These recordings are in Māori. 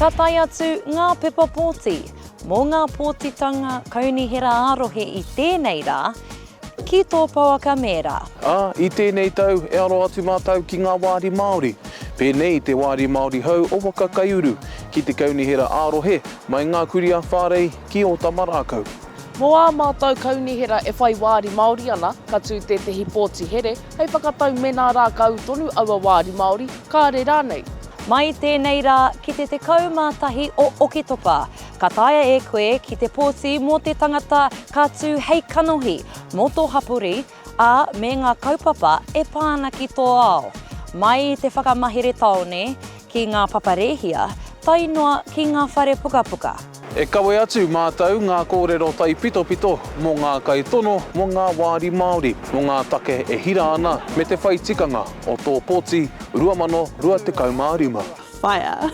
Ka tae atu ngā pepa pōti mō ngā pōtitanga Kaunihera ā-rohe i tēnei rā ki tō pouaka mēra. Ā, i tēnei tau, e aro atu mātou ki ngā wāri Māori, pēnei i te Wāri Māori Hou o Waka Kaiuru, ki te Kaunihera ā-rohe, mai ngā kurī a Whārei, ki Ōtamarākau. Mō ā mātou kaunihera e whai wāri Māori ana, ka tū tētehi pōti here hei whakatau mēnā rākau tonu aua wāri Māori, kāre rānei. Mai i tēnei rā ki te 11 o Oketopa, ka taea e koe ki te pōti mō te tangata ka tū hei kanohi mō tō hapori, ā, me ngā kaupapa e pā ana ki tō ao, mai i te whakamahere tāone ki ngā papa rēhia, tae noa ki ngā whare pukapuka. E kawe atu mātou ngā kōrero taipitopito mō ngā kaitono, mō ngā wāri Māori, mō ngā take e hira ana me te whai tikanga o tō poti 2025. Fire!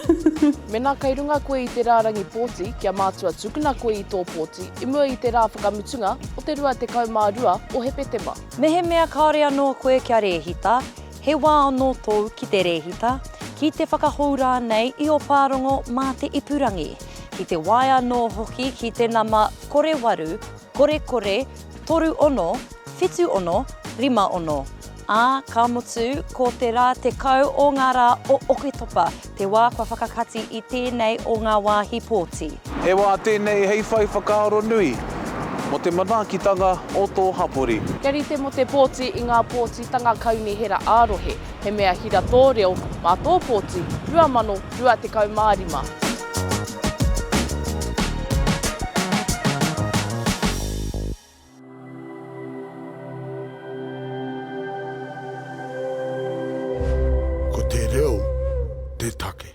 Mena kei runga koe i te rārangi pōti, kia mātua tukuna koe i tō pōti i mua i te rā whakamutunga o te 22 o Hepetema. Mehemea kāore anō koe kia rēhita, he wā anō tōu ki te rēhita, ki te whakahou rānei i ō pārongo mā te ipurangi, ki te waea anō hoki ki te nama kore waru, kore kore, toru ono, whitu ono, rima ono. Ā, ka mutu, ko te rā tekau o ngā rā o Oketopa te wā kua whakakati i tēnei o ngā wāhi pōti. He wā tēnei hei whai whakaaro nui mō te manaakitanga o tō hapori. Kia rite mō te pōti i ngā pōtitanga kaunihera ā-rohe, he mea hira tō reo mā tō pōti 2025. Ko te reo te take.